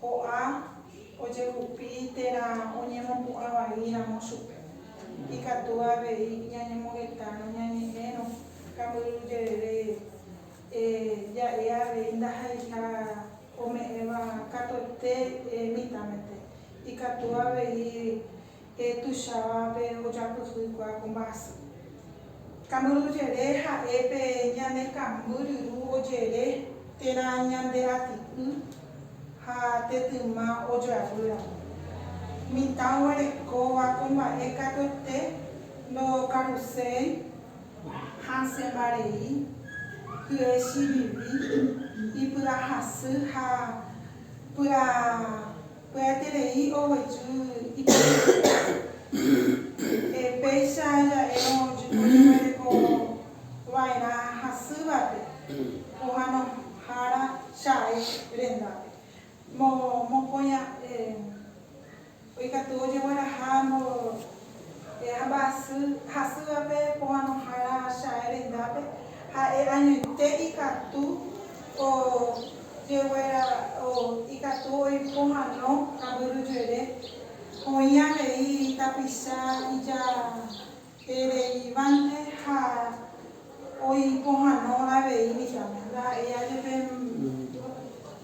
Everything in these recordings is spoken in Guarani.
Ko'ã ojehupi térã oñemopu'ã vai ramo chupe. Ikatu avei ñañemogetárõ ñañe'ẽrõ kambyru jerére, ja'e avei ndahaiha ome'ẽva katuete mitãmete. Ikatu avei Pe tuichávape ojapyhýkua ko mba'asy. Kambyrujere ha'e pe ñane kamby ryru ojere térã ñande rati'y ha tetyma ojavy ramo. Mitã oguerekóva ko mba'e katuete ndokaruséi, hasẽmba rei, hye chiviri, ipy'ahasy ha py'a. Pya'eterei oguejy iporãite. Péicha ja'érõ ojeguereko va'erã hasývape pohanohára Chae rendápe. Mokõi ha'e oikatu ojegueraha mbo. E'a mba'asy hasývape pomanohára Chae rendápe, ha'e añoite ikatu ojeguera, ikatu oipomano kambyryjuere, oĩ avei tapicha ijahereivánte ha oipomano avei mitãme. Ndaha'éi ajepe.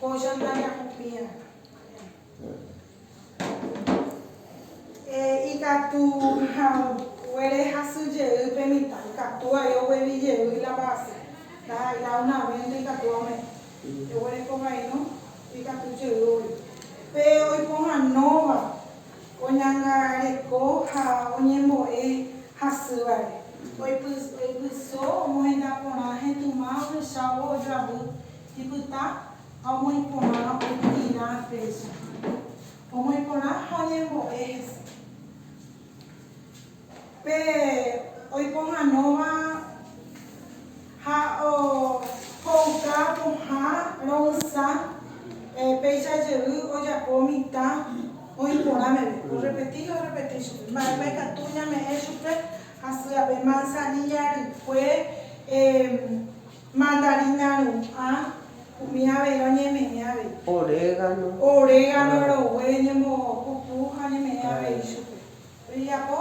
Ko Jana ñakupirã. Ikatu haguére hasy jey pe mitã, ikatu vai oguevi jey la base, la una venta ikatu ame. Eguereko vai no, ikatu jey oguevi. Pe oipohãnóva oñangareko ha oñembo'e hasývare. Oipyso omohenda porã hetuma ohechávo ojoavy. Ipyta ha omoĩ porã oityirã péicha. Omoĩ porã ha oñembo'e hese. Pe oipohãnóva ha ohouka pohã ro'ysã péicha jey ojapo mitã oĩ porã meve. Orrepeti ha orrepeti chupe. Mba'épa ikatu ñame'ẽ chupe hasy ape? Manzanilla rykue. Mandarina ru'ã, umi avero ñeme'ẽ avei. Orégano. Orégano rogue ñembopupu ha ñeme'ẽ avei chupe. Rejapo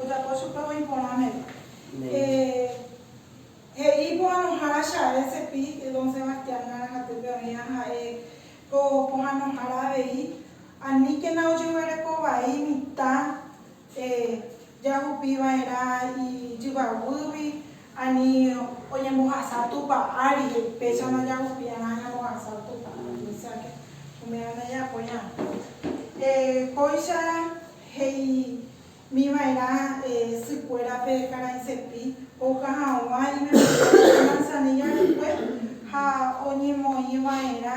ojapo chupe oĩ porã meve. He'i pohanohára che ae Cepi, Don Sebastián maranga'týpe oĩva ha'e ko pohanohára avei, aníkena ojeguereko vai mitã. jahupi va'erã ijyvaguýgui ani oñembohasa Tupã ári, péichama jahupiarã ñambohasa Tupã ári. Óseake umi ára jajapo ñatã. Kóicha he'imi va'erã sykuérape karaisepi ouka hag̃ua imemoria de manzanilla rykue ha oñemoĩ va'erã